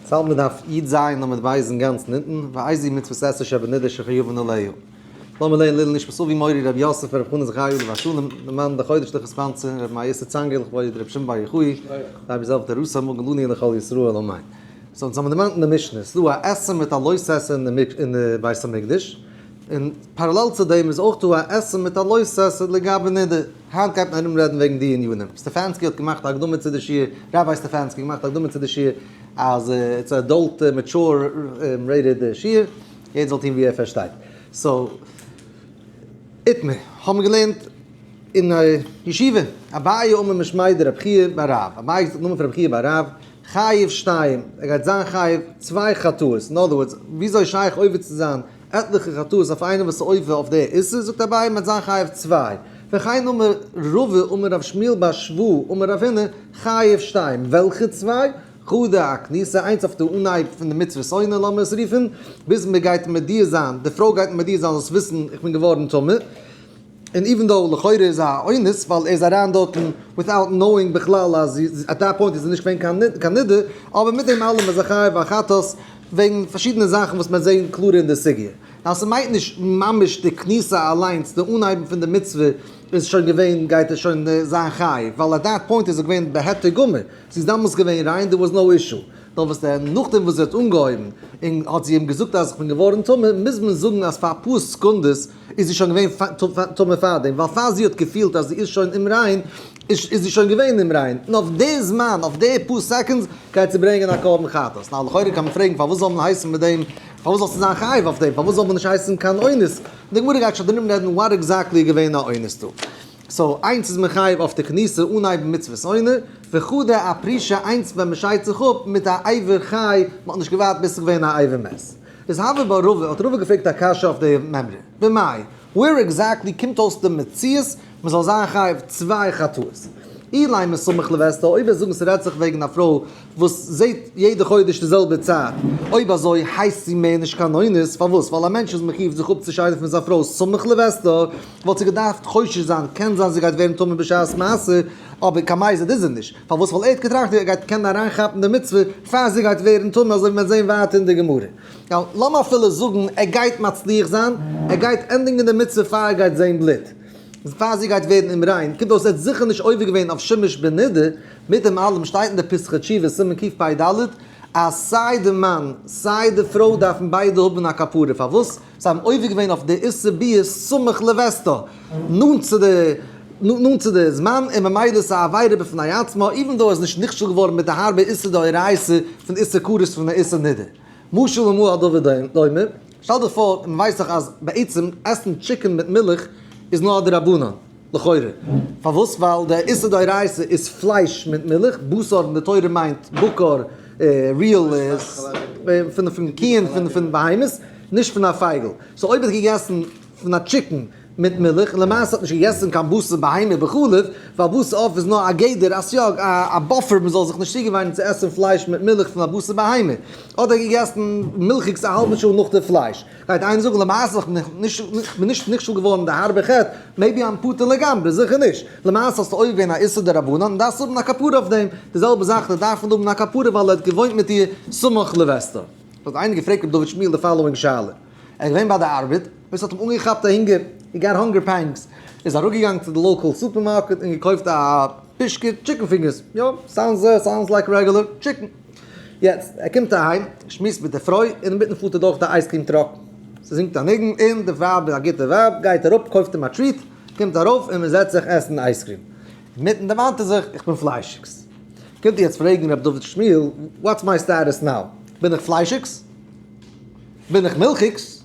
צל מ'דארף איד זיין אז מ'וועט ווייזן גאנץ נתן, ואיזהו מצוות עשה שבנדר שחיובן עליהו. לאמיר לערנען לעילא נשמת אבי מורי רבי יוסף רבי חנא זכריה עליו השלום, די מאן דחודש דכר ספנצר, רבי מאיר יוסף צאנגער לכבוד רבי שמעון בר יוחאי, רבי זאב ד ראסא מגלוני און לכל ישראל אמן. סאו אונז האמיר דערמאנט אין די משנה, ס'איז דא א עשור מיט א לוי'ס עשור אין די בית המקדש, און פאראלעל צו דעם איז אויך דא א עשור מיט א לוי'ס עשור לגבי נדר. היינט גייט מען ארום רעדן וועגן די ענינים. סטעפאנסקי האט געמאכט א הקדמה צו די שיעור, ראביי סטעפאנסקי האט געמאכט א הקדמה צו די שיעור, אז איטס א עדאלט מעטשור רעיטעד שיעור, יעדער זאל טון ווי ער פארשטייט. סאו, איתמר, האבן מיר געלערנט אין א ישיבה, אביי אמר משמי' דרבי חייא ביי רב, אביי האט געזאגט נאמען פון רבי חייא ביי רב, חייב שתיים, ער גייט זיין חייב צוויי חטאות, אין אדער ווארדס, וויאזוי איז שייך עובר צו זיין, עטליכע חטאות אויף איינעם וואס איז עובר אויף דער איסור, זאגט אביי, מ'וועט זיין חייב צוויי, וכן אמר רבא אמר ר' שמואל בר שבוע אמר רב הונא, חייב שתיים, וועלכע צוויי? חודר הכניסה, איינס אויף די אנהייב פון די מצוות עונה לאמיר עס רופן, ביז מ'גייט מודיע זיין, די פרוי גייט מודיע זיין זאלסט וויסן איך בין געווארן טמא, און איווען דאו לכאורה איז א אונס ווייל ער איז אריין דארטן וויטאוט נאוינג בכלל אז עט דעט פוינט איז ער נישט געווען קיין נדר, אבער מיט דעם אלעם איז ער חייב א חטאת וועגן פארשידענע זאכן וואס מיר זעהן קלארער אין די סוגיא. ניין ס'מיינט נישט ממש די כניסה אליינס, די אנהייבן פון די מצוה איז שוין געווען גייט ער שוין זיין חייב, ווייל עט דעט פוינט איז ער געווען בהיתר גמור, זי איז דאמאלס געווען ריין דער וואס נאו אישו, נאר וואס דען נאכדעם וואס זי האט אנגעהויבן און האט זי אים געזאגט אז איך בין געווארן טמא מוז מען זאגן אז פאר אפאר סעקונדעס איז זי שוין געווען טמא פארדעם, ווייל פאר זי האט געפילט אז זי איז שוין אומריין, איז זי שוין געווען אומריין, און אויף די זמן, אויף די פאר סעקאנדס, גייט זי ברענגען א קרבן חטאת. נאר לכאורה קען מען פרעגן, פארוואס זאל מען הייסן מיט דעם, פארוואס זאלסטו זיין חייב אויף דעם, פארוואס זאל מען נישט הייסן קיין אונס? און די גמרא גייט שוין דערום רעדן וואט עקזעקטלי איז געווען א אונס דא. סאו, איינס איז מען חייב אויף די כניסה, אנהייבן מצוות עונה, וכו' ד א פרישע איינס ווען מען שיידט זיך אפ מיט א עבר חי, מען האט נישט געווארט ביז ס'איז געווען א עבר מת. איז הווה בערבה, האט רבא געפרעגט א קשיא אויף די מימרא, במאי, ווער עקזעקטלי קומט אויס די מציאות מען זאל זיין חייב צוויי חטאות? אילי מסמך לווסתו, אויב וועסט זאגן ס'רעדט זיך וועגן א פרוי וואס זעהט יעדע חודש די זעלבע צייט, אויב אזוי הייסט זי מער נישט קיין אונס, פארוואס? ווייל א מענטש איז מחיוב זיך אפצושיידן פון זיין פרוי סמך לווסתו, וואלט זי געדארפט חושש זיין, קען זיין זי גייט ווערן טמא בשעת מעשה, אבער קיין מייסד איז זי נישט. פארוואס ווייל ער האט געטראכט ווי ער גייט קענען אריינכאפן די מצוה פאר זי גייט ווערן טמא אזוי ווי מיר וועט זעהן ווייטער אין די גמרא. יא לאמיר אפילו זאגן ער גייט מצליח זיין, ער גייט ענדיגן די מצוה פאר ער גייט זעהן בלוט, פאר זי גייט ווערן אומריין, קומט אויס ער האט זיכער נישט עובר געווען אויף שמש בנידה, מיט דעם אלעם שטייט אין די פסחא תשובה סימן קפ ד אז סיי די מאן סיי די פרוי דארפן ביידע האבן א כפרה, פארוואס? זיי האבן עובר געווען אויף די עשר ביאות סמוך לווסתו, נאנט צו די נאנט צו די זמן, און ממילא איז א עבירה בפני עצמה, איווען דאו ער איז נישט נכשל געווארן מיט די הארבע איסור דאורייתא פון איסור כרת פון די איסור נדר. משל למה הדבר דומה, שטעל דיך פאר, און מען ווייסט דאך אז בעצם עסן טשיקן מיט מילך איז נאר א דרבנן, לכאורה. פארוואס? ווייל דער איסור דאורייתא איז פלייש מיט מילך, בשר אין די תורה מיינט בקר, ריעל פון קיען, פון בהמות, נישט פון א פייגל. סאו אויב ער האט געגעסן פון א טשיקן מיט מילך, און למעשה האט נישט געגעסן קיין בשר בהמה וכו', ווייל בשר עוף איז נאר א גדר, א סייג, א באפער מען זאל זיך נישט צוגעוויינען צו עסן פלייש מיט מילך פון א בשר בהמה. אדער געגעסן מילכיגס א האלבע שעה נאך די פלייש. גייט איינער זאגן למעשה איך בין נישט נכשל געווארן די הארבע חטא, מעיבי איים פטור לגמרי, זיכער נישט, למעשה האסטו עובר געווען א איסור דרבנן און דארפסט האבן א כפרה אויף דעם, די זעלבע זאך די דארף נישט האבן א כפרה ווייל ער האט געוואוינט מיט איר סמוך לבסתו. האט איינער געפרעגט ר' דוד שמואל די פאלאווינג שאלה, ער איז געווען ביי די ארבעט, ביז ס'האט אים אנגעכאפט א הונגער, הי גאט האנגער פעינגס, איז אראפגעגאנגען צו די לאקעל סופערמארקעט און געקויפט א פישקע טשיקן פינגערס, יא, סאונדס סאונדס לייק רעגולער טשיקן. יעצט ער קומט אהיים, שמועסט מיט די פרוי, אינמיטן פארט ער דורך די אייז קריעם טראק, זי זינגט א ניגון און די ווייב איז א גוטע ווייב, גייט אראפ קויפט אים א טריט, קומט ארויף און מען זעצט זיך עסן אייז קריעם, אינמיטן דערמאנט ער זיך, איך בין פליישיגס, קומט איר יעצט פרעגן ר' דוד שמואל, וואטס מיי סטאטוס נאו, בין איך פליישיגס? בין איך מילכיגס?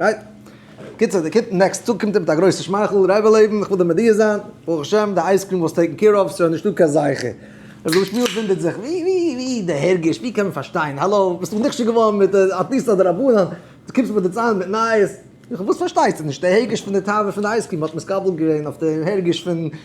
רייט? קיצער די קיט נעקסט טאג קומט ער מיט א גרויסע שמייכל, רעבע לעבן איך וויל דיר מודיע זיין, ברוך השם די אייז קריעם וואלסט טעיקן קעיר אוו, ס'שוין נישטא קיין זכר. ר' גאלשמיאל ווינדערט זיך, ווי ווי ווי די הרגש, ווי קען מען פארשטיין, האלא, ביסט דאך נכשל געווארן מיט א טיסא דרבנן, דו קומסט מיר דערציילן מיט נייעס, וואס פארשטייסטו נישט, די הרגש פון די תאווה פון די אייז קריעם האט מתקבל געווען אויף די הרגש פון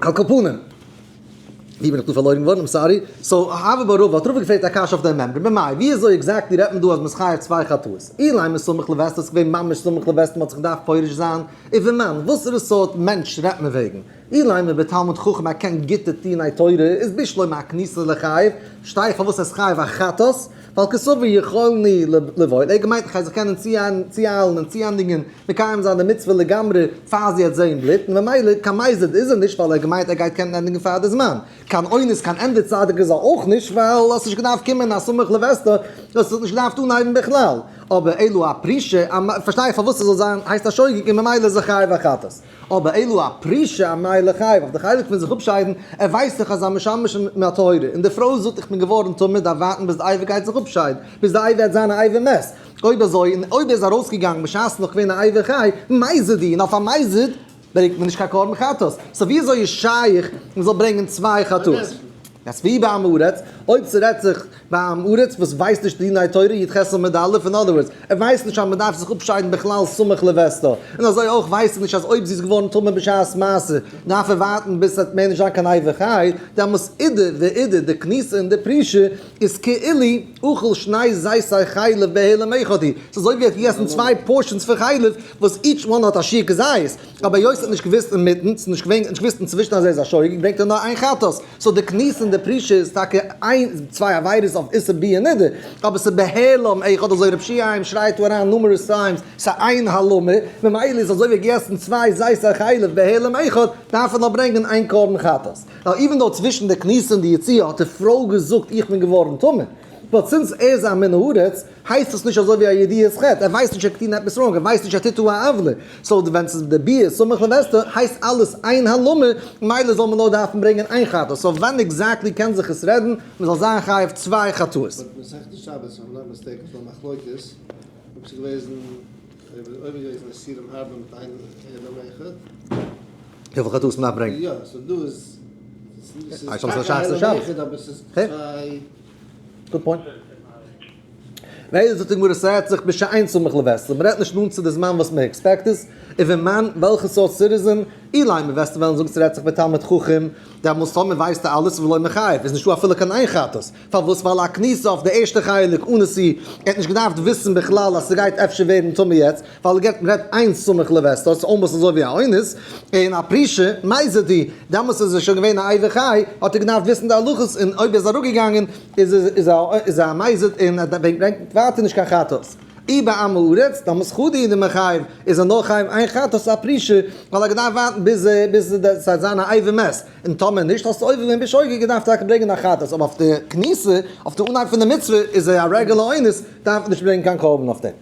על כל פנים, ווי בין איך דא פארלוירן געווארן? איים סארי. סאו, האבער ביי רובא האט רובא געפרעגט א קשיא אויף דעם מעמרא, במאי, ווי אזוי עקזעקטלי רעדט מען דא אז מען איז חייב צוויי חטאות? אילאי מסמך לווסת איז געווען ממש סמוך לווסת מען האט זיך געדארפט פורש זיין, איבער מן, וואסערע סארט מענטש רעדט מען וועגן? אילאי מען איז בתלמוד חכם א קען גוטע טוהן א תורה איז בשלו מהכניסה לחייב, פארשטיי איך פארוואס ער איז חייב א חטאת, ועל כסבי יכולני לבעוט, ער האט געמיינט איך גיי זיך קענען צוהיילן און צוענדיגן מקיים זיין די מצוה לגמרי פאר זי העט זעהן בלוט, און ממילא קיין מזיד איז ער נישט ווייל ער האט געמיינט ער גייט קענען ענדיגן פאר די זמן, קיין אונס קיין ענדע צדיק איז ער אויך נישט ווייל האסט נישט געדארפט קומען אז סמוך לבעשטה האסט זיך נישט געדארפט אנהייבן בכלל, אבער אילו א פרישע פארשטיי איך פארוואס ער זאל זיין הייסט א שוגג און ממילא איז ער חייב א חטאת. אבער אילו א פרישע א ניי לחייו אויף די חלק פון זיך אפשיידן, ער ווייסט זיך אז א משמש אין א טהרה, און די פרוי זאגט איך בין געווארן טמא דארף ווארטן ביז די אייוועלט גייט זיך אפשיידן, ביז די אייוועלט זיין א אייוועלט מת, אויב אזוי און אויב ער איז ארויסגעגאנגן בשעת נאך געווען א אייוועלט חי, מייסד אי, און אויף א מייסד ברענגט מען נישט קיין קרבן חטאת, סא ווי אזוי איז שייך מען זאל ברענגען צוויי חטאות? יעצט ווי באמרת, אויב ס'רעדט זיך. ביי עם הארץ וואס ווייסט נישט דיני תורה יט חסל מד א', אין אדער ווארדס, ער ווייסט נישט אז מען דארף זיך אפשיידן בכלל סמוך לווסתו, און אזוי אויך ווייסט ער נישט אז אויב זי איז געווארן טמא בשעת מעשה דארף ער ווארטן ביז עס וועט מער נישט זיין קיין איבר חי, דעמאלס אידא ואידא די כניסה און די פרישה איז כאילי אכל שני זיתי חלב בהעלם איכותי, ס'איז אזוי ווי ער האט געגעסן צוויי פארשענס פון חלב וואס איטש וואן האט א שיעור כזית, אבער היות ער האט נישט געוואוסט אינמיטן, ס'איז נישט געווען נישט געוואוסט אינצווישן אז ער איז א שוגג ברענגט ער נאר איין חטאת. סאו די קנס אין די פרישה איז טאקע איין צוויי עבירות אויף איסור ביאה נדה, אבער ס'איז בהעלם עי' כאטש אזוי רב שיהיים שרייט דא אריין נומערעס טיימס, ס'איז איין העלמה, ממילא איז אזוי ווי געסן צוויי זיתן חלב בהעלם עי' כאטש דארף ער נאר ברענגען איין קרבן חטאת. נאו איווען דאו צווישן די קנס און די יציאה האט די פרוי געזאגט איך בין געווארן טמא, באט סינס ער איז א מן הארץ, הייסט דאס נישט אזוי ווי א ידיעה איז חטא, ער ווייסט נישט ער האט געטון עפעס ראנג, ער ווייסט נישט ער טוט דא א עוולה, סאו ווען ס'איז די ביה ח סמוך לווסתו הייסט אלעס איין הלמ ר, מילא זאל מען נאר דארפן ברענגען איין חטא, סאו ווען עקזעקטלי קען זיך עס רעדן מען זאל זיין חייב צוויי חטאות? באט מסכת שבת האט מען נאר מסתייג אויף א מחלוקת אויב ס'איז געוועזן אויב איז געוועזן אסירים הרבה מיט איין אדם אחד. וויפיל חטאות מ'דארף ברענגען. יא, סאו דא איז. גוד פוינט. ביידע זאגט די גמרא ס'רעדט זיך בשעיין סמוך לווסת, מ'רעדט נישט נאנט צו די זמן וואס מ'עקספעקט עס, און ווען מן, וועלכע סארט סיטיזען, אילאי מ'וועסט וועלן זאגן ס'רעדט זיך בתלמיד חכם, דעמאלס טאמער ווייסטו אלעס איז ולא מחייב, איז נישטא אפילו קיין איין חטאת, פארוואס ווייל א כניסה אויף די ערשטע חלק אן נשיא, ער האט נישט געדארפט וויסן בכלל אז ס'גייט אפשר ווערן טמא יעצט. ווייל געט מען רעדט איין סמוך לווסתו ס'איז אלמאסט אזוי ווי א אונס, און א פרישע מאי זה די, דעמאלטס איז ער שוין געווען א עובר חי, האט ער געדארפט וויסן די הלכות, און אויב ער איז אראפ געגאנגען איז איז ער א מאי זה די און ברענגט ווייטער נישט קיין חטאת. אי בעם הארץ, דעמאלטס חדי די מחייב, איז ער נאר חייב איין חטאת איז א פרישע, ווייל ער האט געדארפט ווארטן ביז ביז ס'וועט זיין א עובר מת, און טאמער נישט האסטו עובר געווען בשוגג געדארפט טאקע ברענגען א חטאת, אבער אויף די כניסה, אויף די אנהייב פון די מצוה, איז ער א רעגולער אונס, דארף מען נישט ברענגען קיין קרבן אויף דעם.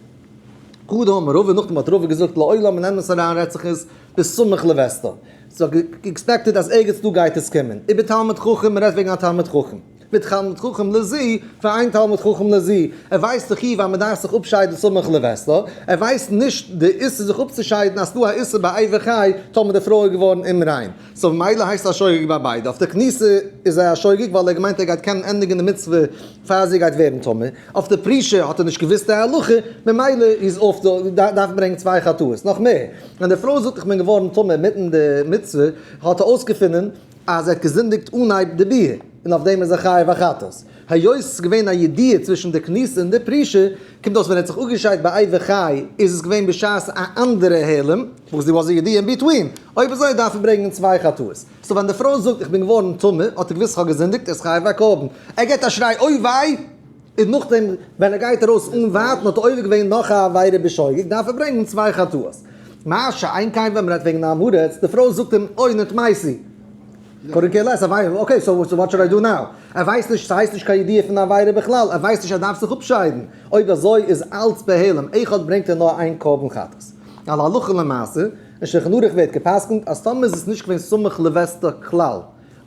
קדם רבה נאכדעם האט רבה געזאגט לעולם און אמת אריין רעצעכעס ביז סמוך לוועסטא זיך געקספעקטעט אז ערגעץ דא גייט עס קומען איבער תלמיד חכם מ'רעדט וועגן א תלמיד חכם מיט תלמיד חכם לע ז פאר איין תלמיד חכם לע ז ער ווייסט דאך אי ווען מ'דארף זיך אפשיידן סמוך לוועסטא ער ווייסט נישט די איסור זיך אפצושיידן אז ס'דא א איסור ביי אייוועלט חי טאמער די פרוי איז געווארן אומריין. סאו ממילא הייסט ער א שוגג ביי ביידע. אויף די כניסה איז ער א שוגג ווייל ער האט געמיינט ער גייט קענען ענדיגן די מצוה פאר זי גייט ווערן טמא. אויף די פרישה האט ער נישט געוואוסט די הלכה, ממילא איז אויף די דארף מען ברענגן צוויי חטאות. נאך מער, ווען די פרוי זאגט איך בין געווארן טמא אינמיטן די מצוה, האט ער אויסגעפונען אז ער האט געזינדיגט אנהייב די ביאה, און אויף דעם איז ער חייב א חטאת. היות ס'איז געווען א ידיעה צווישן די כניסה און די פרישה, קומט אויס ווען ער האט זיך אפגעשיידט ביי איי וחי איז עס געווען בשעת א אנדערע העלם, וואס דער וואס די ידיעה אין ביטווין, אויב אזוי דארף ער ברענגען צוויי חטאות, סאו ווען די פרוי זאגט איך בין געווארן טמא האט ער געוואוסט איך האב געזינדיגט ער איז חייב א קרבן, ער געט א שריי אוי וויי, און נאכדעם ווען ער גייט ארויס אן ווארטן האט ער עובר געווען נאך א עבירה בשוגג דארף ער ברענגען צוויי חטאות, מה שאין כן ווען מ'רעדט וועגן א עם הארץ, די פרוי זאגט אים אוי נתמייסי. קאדענט קעיר לעס, אקעי סאו וואט שוד איי דא נאו? ער ווייסט נישט, ס'הייסט נישט קיין ידיעה פון די עבירה בכלל, ער ווייסט נישט ער דארף זיך אפשיידן, אויב אזוי איז אלץ בהעלם, עכ פ ברענגט ער נאר איין קרבן חטאת. על הלכה למעשה, אין שלחן ערוך ווערט גע'פסק'נט אז טאמער איז עס נישט געווען סמוך לווסתו כלל,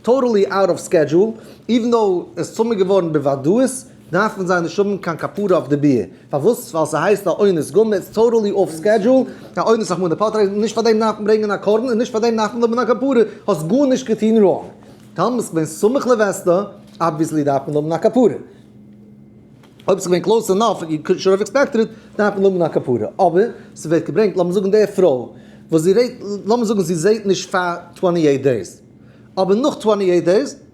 טאטעלי אוט אוו סקעדזשועל, איווען דאו עס צומעקט געווארן בוודאות, דארפן זיי נישט האבן קיין כפרה אויף די בעה, פארוואס? ווייל ס'הייסט א אונס גמ', איטס טאטעלי אףף סקעדזשול, א אונס אחמ ד פארטרעטן, און נישט פאר דעם דארף מען ברענגען א קרבן, און נישט פאר דעם דארף מען האבן א כפרה, האסט גארנישט געטון ראנג, טאמער איז געווען סמוך לווסתו, אבוויעסלי דארף מען האבן א כפרה, אויב ס'געווען קלאוס ענאף, יו קאלד שור אויף עקספעקטעד איט, דארף מען האבן א כפרה, אבער ס'ווערט געברענגט, לאמיר זאגן די פרוי, וואס זי רעדט, לאמיר זאגן זי זעהט נישט פאר טווענטי עיט דעיס, אבער נאך טווענטי עיט דעיס,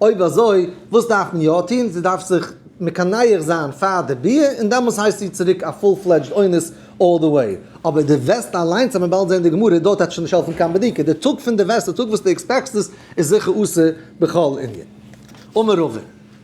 אויב אזוי, וואס דארף מען יא טון? זי דארף זיך מקנח זיין פאר די ביה, און דעמאלס הייסט זי צוריק א פול פלעדזשד אונס אלל די וועי. אבער דו וועסט אליינס, וועט מען באלד זען די גמרא דא, טאקע נישט העלפן קיין בדיקה. די טאג פון די וועסט, די טאג וואס דו עקספעקסט עס, איז זיכער אסור בכל ענין. אמר רבא,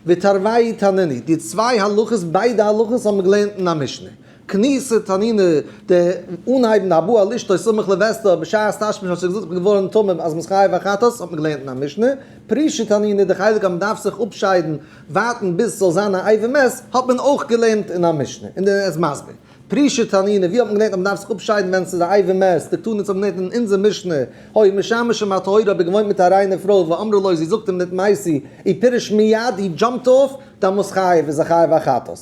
ותרווי' תנני, די צוויי הלכות, ביידע הלכות האבן מיר געלערנט אין א משנה. כניסה תנינא, די אנהייבן די הבא על אשתו סמוך לווסתו בשעת תשמיש האט זי געזאגט איך בין געווארן תמים אז מ'איז חייב החטאת האט מען געלערנט אין א משנה, פרישה תנינא, די חלק אז מ'דארף זיך אפשיידן ווארטן ביז ס'זאל זיין א איי ווי מעס האט מען אויך געלערנט אין א משנה, און ער איז מסביר. פרישה תנינא, ווי האט מען געלערנט אז מ'דארף זיך אפשיידן ווען ס'איז א איי ווי מעס, די תנית האט מען געלערנט אין אונזער משנה, הוי משמש עם הטהורה האט ער געוואוינט מיט א ריינע פרוי ואמרה לו זי זאגט אים נתמייסי אי פירש מיד אי דזשאמפט אויף דאן מוז חייב איז ער חייב החטאת.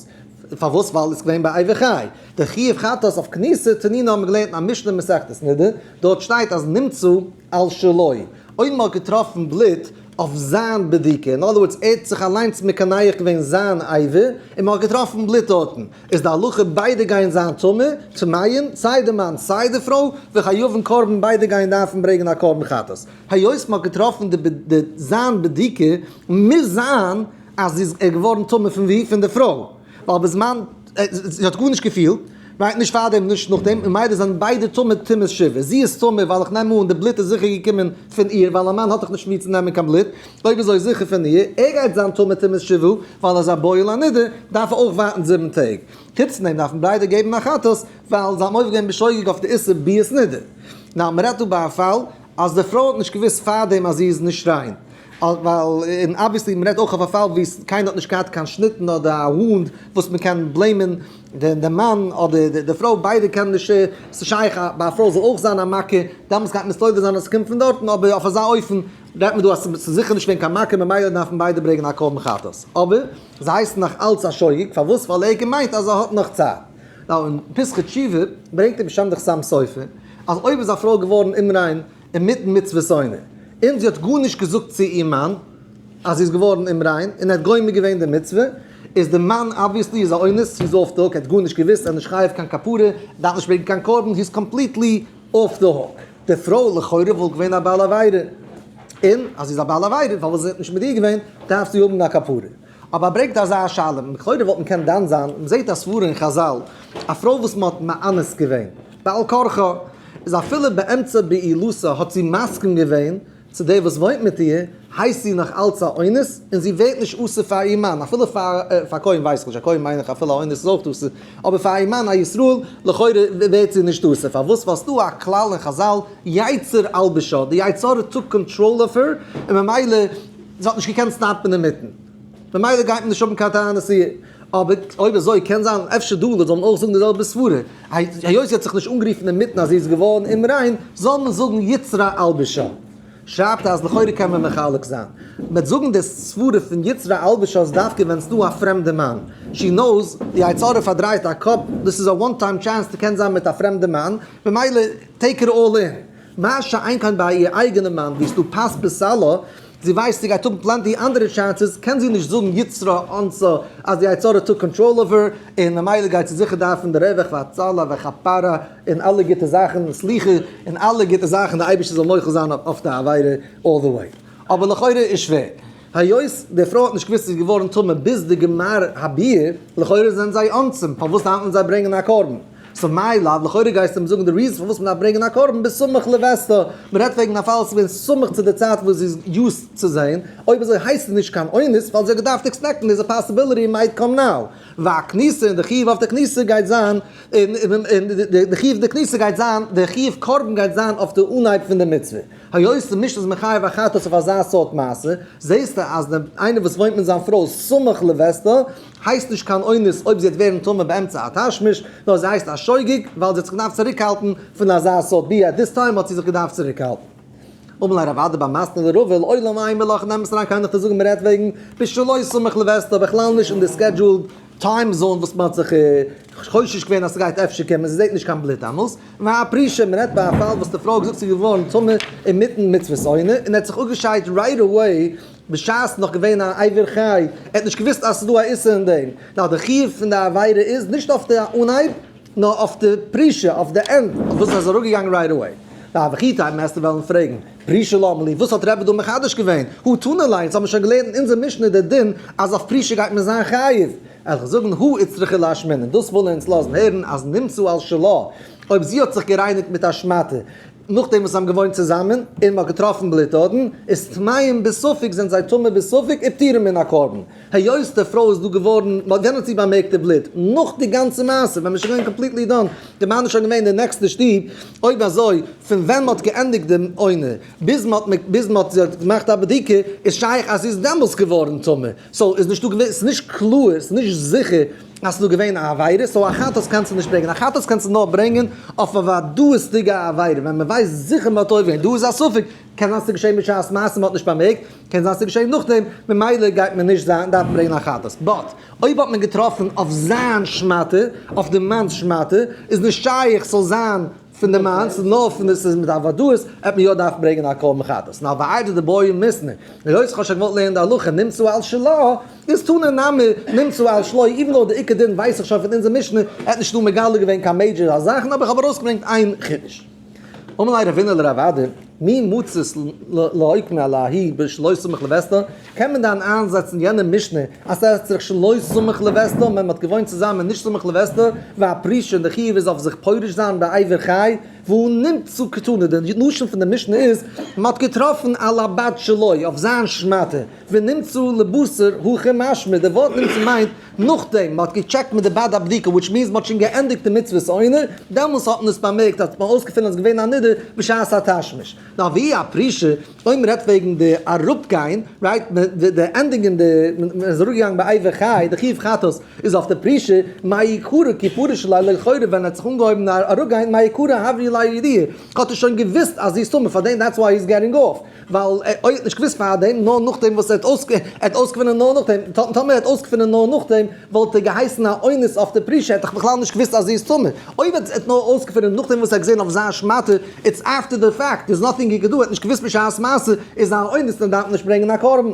פארוואס ווייל איז געווען ביי עבר חי די חיוב חטאת אויף כניסה תנינא האבן מיר געלערנט אין א משנה אין מסכת נדה דארט שטייט אז נמצא על שלו אויב מען האט געטראפן בלוט אויף זיין בדיקה אין אדער ווארדס ער האט זיך אליינס מקנח געווען זיין עבר און מען האט געטראפן בלוט דארטן איז די הלכה ביידע גייען זיין טמא טמאים סיי די מאן סיי די פרוי וחייבים קרבן ביידע גייען דארפן ברענגען א קרבן חטאת היות מען האט געטראפן די זיין בדיקה מוז זיין אז זי איז געווארן טמא פון ווי? פון די פרוי, ווייל בזמן זי האט גארנישט געפילט, מיינט נישט פארדעם און נישט נאכדעם, ממילא זענען ביידע טמא טומאת שיבה, זי איז טמא ווייל איך נעם אן די בלוט איז זיכער געקומען פון איר, ווייל א מאן האט דאך נישט מיר צו נעמען קיין בלוט, אויב אזוי זיכער פון איר, ער גייט זיין טמא טומאת שיבה, ווייל ער איז א בועל א נדה, דארף ער אויך ווארטן זיבן טעג, חוץ פון דעם דארפן ביידע געבן א חטאת, ווייל זיי האבן אויפגעגעבן בשוגג אויף די איסור ביאת נדה, ניין מען רעדט דא ביי א פאל אז די פרוי האט נישט געוואוסט פארדעם אז זי איז נישט ריין, ווייל און אבוויעסלי מען רעדט אויך אויף א פאל וואו קיינער האט נישט געהאט קיין שניטן אדער א וואונד וואס מען קען בלעימען די מאן אדער די פרוי ביידע קענען נישט ס'איז שייך ביי א פרוי זאל אויך זיין א מכה דאמאלס גייט מען מסתובב זיין אז ס'קומט פון דארטן אבער אויף אזא אופן רעדט מען דא אז ס'איז זיכער נישט געווען קיין מכה ממילא דארפן ביידע ברעגן א קרבן חטאת אבער זיי הייסן נאך אלץ א שוגג פארוואס ווייל ער האט געמיינט אז ער האט נאך צייט. נאר אין פסחא תשובה ברענגט דער משמ דאך סתם סופר אז אויב איז א פרוי געווארן אומריין אינמיטן מצוות עונה און זי האט גארנישט געזאגט צו איר מאן אז זי איז געווארן אומריין און ער האט גומר געווען די מצוה איז די מאן אבוויעסלי איז א אונס זי איז אףף די הוק ער האט גארנישט געוויסט ער איז נישט חייב קיין כפרה דארף נישט ברענגן קיין קרבן זי איז קאמפליטלי אףף די הוק. די פרוי לכאורה וואלט געווען א בעל עבירה און אז זי איז א בעל עבירה פארוואס איז ער נישט מיט איר געווען דארף זי האבן א כפרה אבער ברענגט אזא שאלה וואס לכאורה וואלט מען קענען דן זיין, מען זעט א סברה אין חזל, א פרוי וואס מען האט מאנס געווען בעל כרחה, איז אפילו באמצע בעילותה האט זי מסכים געווען צו דער וואס וואוינט מיט איר, הייסט זי נאך אלץ א אונס, און זי ווערט נישט אסור פאר איר מאן, אפילו פאר א כהן ווייס איך נישט, א כהן מיין איך אפילו א אונס איז אויך אסור, אבער פאר איר מאן א ישראל לכאורה ווערט זי נישט אסור, פארוואס? ווייל ס'איז דא א כלל אין חזל, יצר ילבישה, די יצר האט טאק קאנטראל אויף איר, און ממילא. זי האט נישט געקענט סטאפן אינמיטן, ממילא גייט מען נישט האבן קיין תענית איר. אבער אויב אזוי קען זיין אפשר דא לויט זאל מען אויך זאגן די זעלבע סברה, היות זי האט זיך נישט אנגערופן אינמיטן אז זי איז געווארן אומריין, זאל מען זאגן יצרה אלבשה. שרייבט ער אז לכאורה קען מען מחלק זיין, מ'וועט זאגן די סברה פון יצרה אלבשה איז דווקא ווען ס'דא א פרעמדע מאן, שי נאוס, די יצר הרע פארדרייט א קאפ, דאס איז א וואן טיים טשענס ס'קען זיין מיט א פרעמדע מאן, ממילא טעיק איט אלל אין. מה שאין כן ביי איר אייגענע מאן ווי ס'דא פס בסלו, זי ווייסט זי גייט האבן פלענטי אנדערע טשענסעס, קען זי נישט זאגן יצרה אנסו אז די יצה ר טאק קאנטראל אויף איר, און ממילא גייט זי זיכער דארפן די רווח והצלה וכפרה און אלע גוטע זאכן, סליחה און אלע גוטע זאכן, די אייבערשטער זאל מוחל זיין אויף די עבירה אלל די וועי. אבער לכאורה איז שווער. היות די פרוי האט נישט געוואוסט זי איז געווארן טמא ביז די גמר הביאה, לכאורה זענען זיי אנצים, פארוואס דארף מען זיי ברענגען א קרבן? סא מאי לד, לכאורה גייסטו מיר זאגן די ריזן פארוואס מען דארף ברענגען א קרבן ביז סמוך לווסתה, מען רעדט וועגן א פאל וואס איז געווען סמוך צו די צייט וואס זי איז יוז צו זען, אויב אזוי הייסט עס נישט קיין אונס ווייל זי האט געדארפט עקספעקטן דעיס פאסיביליטי מייט קאם נאו, והכניסה און די חיוב אויף די כניסה גייט זיין און די חיוב די כניסה גייט זיין די חיוב קרבן גייט זיין אויף די אנהייב פון די מצוה. היות ס'נישט איז מחייב א חתס אויף אזא סארט מעשה, זעהסטו אז דער איינער וואס וואוינט מיט זיין פרוי סמוך לביתו, הייסט נישט קיין אונס אויב זי וועט ווערן טמא באמצע א תשמיש, נאר זי הייסט א שוגג, ווייל זי האט זיך געדארפט צוריקהאלטן פון אזא סארט ביה, עט דיס טיים האט זי זיך געדארפט צוריקהאלטן. אמר לה רב אדער ביי מסטינא דרבה וויל עולם עיין בלא כ'נעם עס אריין קיינעך צו זאגן מ'רעדט וועגן פ ש לוי' סמוך לביתו בכלל נישט אין די סקעדזשועלד טיים זאון וואס מ'האט זיך חושש געווען אז ס'גייט אפשר קומען, ס'זעהט נישט קיין בלוט דאמאלס, והא פרישה מ'רעדט ביי א פאל וואס די פרוי האט געזאגט ס'איז געווארן טמא אינמיטן מצוות עונה און ער האט זיך אפגעשיידט רייט עוועי בשעת נאך געווען א עובר חי, ער האט נישט געוואוסט אז ס'איז דא א איסור אין דעם, נו די חיוב פון די עבירה איז נישט אויף די אנהייב. נאר אויף די פרישה, אויף די ענד, אויף וואס ער איז אראפגעגאנגען רייט עוועי. להווכי טעם העסטו וועלן פרעגן, פרישה למה לי, וואס האט רעבע דא מחדש געווען? הא תנא ליה, אונז האבן שוין געלערנט אין אונזער משנה די דין אז אויף פרישה גייט מען זיין חייב. עלכ זאגן הא איצטרכי להשמין, און דאס ווילן אונז לאזן הערן אז נמצא על שלה, אויב זי האט זיך גערייניגט מיט א שמאטע נאכדעם וואס זיי האבן געוואוינט צוזאמען, און מען האט געטראפן בלוט אדען איז טמאים בספק זענען זיי טמא בספק ופטורים מן הקרבן. היות די פרוי איז דא געווארן, מען האט יענערס צו באמערקט די בלוט, נאך די גאנצע מעשה, ווען מען איז שוין געווען קאמפליטלי דאן, די מאן איז שוין געווען אין די נעקסטע שטוב, אויב אזוי, פון ווען מען האט געענדיגט די עונה, ביז מען האט, ביז מען האט, זי האט געמאכט א בדיקה, איז שייך אז זי איז דעמאלס געווארן טמא, סאו איז נישטא געווען, ס'איז נישט קלאר, ס'איז נישט זיכער אז ס'איז דא געווען א עבירה, סאו א חטאת קענסטו נישט ברענגען, א חטאת קענסטו נאר ברענגען אויף א וודאות'דיגע עבירה, ווען מען ווייסט זיכער מען האט עובר, דא איז א ספק, קען זיין ס'געשעהן בשעת מעשה מ'האט נישט באמערקט, קען זיין ס'געשעהן נאכדעם, ממילא גייט מען נישט זיין דארפן ברענגען א חטאת. באט אויב האט מען געטראפן אויף זיין שמאטע, אויף די מאן'ס שמאטע, איז נישט שייך ס'זאל זיין פון די מאן, ס'איז נאר פון די, ס'איז מיט א ודאות, העט מען יא דארפן ברענגען א קרבן חטאת. נאר ועי' די דבורים מסנ ר אויס כ'האב שוין געוואלט לערנען די הלכה נמצא על שלא, איז תנא נמי נמצא על שלא, איווען דאו די עיקר דין ווייס איך שוין פון אונזער משנה, ער האט נישט דא מגלה געווען קיין מעידזשער זאכן, אבער איך האב ארויסגעברענגט איין חידוש. אמר ליה רבינא לראבד מי מצות לאיק מ עלה הי' בשלא סמך לבסתו, קען מען דאן איינזעצן יענע משנה אז ס'עסט זיך שלא סמך לבסתו ווען מ'האט געוואוינט צוזאמען נישט סמוך לבסתו, והפרישה און די חיוב איז אויף זיך פורש זיין בעבר חי, והוא נמצא קטנה, די לשון פון די משנה איז מ'האט געטראפן על הבת שלו אויף זיין שמאטע, ונמצא לבשר הכי משמע, די ווארט נמצא מיינט נאכדעם מען האט געטשעקט מיט די בעד הבדיקה וויטש מיענס מען האט שוין געענדיגט די מצוות עונר, דעמאלס האט מען עס באמערקט אז מען האט אויסגעפונען אז עס איז געווען א נדר בשעת התשמיש. נאר והיא הפרישה, אויב מען רעדט וועגן די אראפגיין, רייט מען די די ענדינג אין די, מען איז אראפגעגאנגען ביי עובר חי, די חיוב חטאת איז אויף די פרישה, מה יקרה כי פרש אלי לכאורה ווען ער האט זיך אנגעהויבן אראפגיין מה יקרה הברי אלי לידיעה, האט ער שוין געוואוסט אז זי איז טמא פאר דעם דעטס וויי הי איז געטינג אויף. ווייל ער האט נישט געוואוסט פארדעם, נאר נאכדעם וואס ער האט אויסגעפונען נאר נאכדעם, טאמער ער האט אויסגעפונען נאר נאכדעם, וואלט ער געהייסן א אונס אויף די פרישע, ער האט דאך בכלל נישט געוואוסט אז זי איז טמא, אויב ער האט נאר אויסגעפונען נאכדעם וואס ער האט געזען אויף זיין שמאטע, איטס אפטער די פעקט, דערס נאטינג הי קען דא, ער האט נישט געוואוסט בשעת מעשה, איז ער א אונס און דארף נישט ברענגען א קרבן.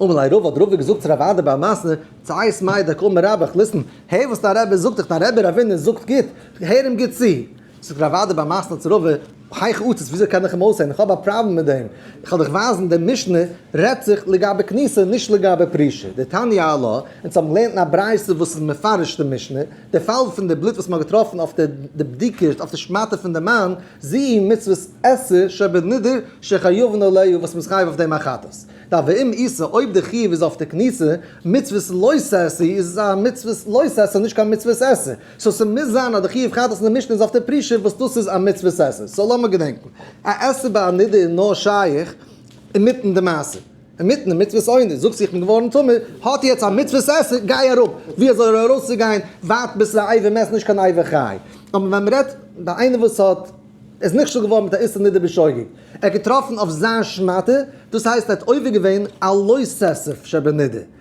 אמר ליה רבא, האט רבא געזאגט צו רב אדער ביי א מעשה, צייס מאי דקא אמר רבא, ליסטען, הער וואס דיין רבי זאגט דיך, דיין רבי רבינו זאגט גוט, הער אים גוט צו. זאגט רבי אוודאי ביי מסנא צרבה האי חוצץ וויאזוי קען איך אים אויסהערן איך האב א פראבלעם מיט דעם איך וועל דיך ווייזן דער משנה רעדט זיך לגבי כניסה נישט לגבי פרישה די תניא א ל אונז האבן געלערנט אין א ברייתא וואס איז מפרש די משנה די פאל פון די בלוט וואס מען האט געטראפן אויף די די בדיקה אויף די שמאטע פון די מן זי ע מצוות עשה שבנדר שחייבן עליה וואס מען איז חייב אויף דעם א חטאת ד ואם עשה אויב די חיוב איז אויף די כניסה מצוות לא תעשה איז עס א מצוות לא תעשה נישט קיין מצוות עשה. סאו ס'מוז זיין אז די חיוב חטאת אין די משנה איז אויף די פרישה וואס דאס איז א מצוות עשה, סאו לאמיר געדענקן, א עשה ביי א נדה איז נאר שייך אינמיטן די מעשה, אינמיטן די מצוות עונש, זאגסטו איך בין געווארן טמא, האט יעצט א מצוות עשה, גיי אראפ, ווי אזוי ארויסצוגיין, ווייט ביסט א איבר מעסט נישט קיין איבר חי, אבער ווען מ'רעדט ביי איינער וואס האט איז נכשל געווארן מיט א איסור נדה בשוגג, ער האט געטראפן אויף זיין שמאטע, דאס הייסט ער האט עובר געווען א לא ססף שבנדה.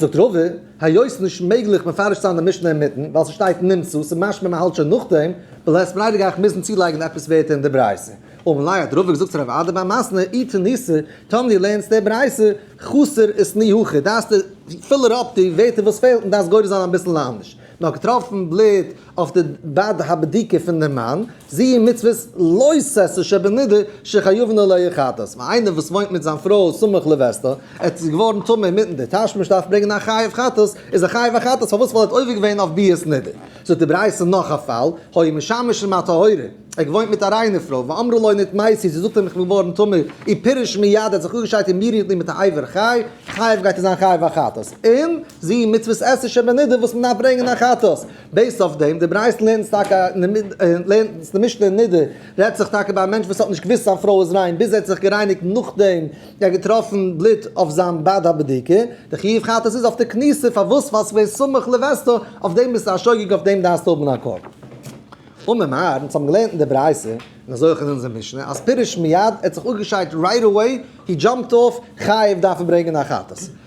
זאגט רבא, היות ס'איז נישט מעגליך מפרש צו זיין די משנה אינמיטן, ווייל ס'שטייט נמצא, ס'איז משמע מ'האלט שוין נאכדעם, וועל איך עס פריידיגאכט מוזן צולייגן עפעס ווערטער אין די ברייתא. וממילא האט רבא געזאגט צו רב אדא ביי מסנ א, אי תניסא, טאמער דו לערנסט די ברייתא חסר איז תני הכי, דארפסטו פילער אפ די ווערטער וואס פעלט און דארפסט גורס זיין אביסל לאנדערש. נאר געטראפן בלוט אויף די בעד הבדיקה פון דעם מאן, זי ע מצוות לא ששה שבנדה שחיובן עליה חטאת, ווייל איינער וואס וואוינט מיט זיין פרוי סמוך לבעשתה, ער האט איז געווארן טמא אינמיטן די תשמיש דארף ברענגען א חיוב חטאת, איז ער חיוב א חטאת פארוואס ווייל ער האט עובר געווען אויף ביאת נדה. זאגט די ברייתא נאך א פאל, היה משמש עם הטהורה, ער האט געוואוינט מיט א ריינע פרוי, ואמרה לו נתמאסי, זי זאגט אים איך בין געווארן טמא, אי פירש מיד ער האט זיך אפגעשיידט און מיר איר נימט א עובר חי, חיוב גייט ער זיין חיוב א חטאת, און. זיבן מצוות עשה שבנידה וואס מ'דארף ברענגען א חטאת. בעיסד אויף דעם, די ברייתא לערנט טאקע לערנט די משנה אין נדה, רעדט זיך טאקע ביי א מענטש וואס האט נישט געוואוסט זיין פרוי איז ריין ביז ער האט זיך גערייניגט נאכדעם ער האט געטראפן בלוט אויף זיין בד ה בדיקה, די חיוב חטאת איז אויף די כניסה, פארוואס ווייל ס'איז געווען סמוך לווסת, אויף דעם ביסטו א שוגג אויף דעם דארפסטו האבן א קול. אמר מר, אונז האבן געלערנט אין די ברייתא, און אזוי אויך אין אונזער משנה, אז פירוש מיד, ער האט זיך אפגעשיידט רייט עוועי, הי דזשאמפד אויף, חייב דארף ער ברענגען א חטאת.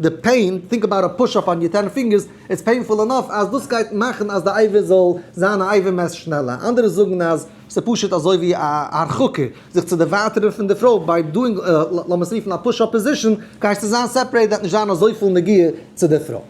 די פעין, טינק אבאוט א פוש אפ אן יור טען פינגערס, איטס פעינפול ענאף אז דאס גייט מאכן אז די אייוועלט זאל זיין א אייוועלט מער שנעלער, אנדערע זאגן אז ס'איז פשוט אזוי ווי א הרחקה, זיך צו דערווייטערן פון די פרוי ביי דואינג לאמער'ס רופן א פוש אפ פאזישאן, גייסטו זיין סעפערעיט וועט נישט זיין אזויפיל נגיעה צו די פרוי.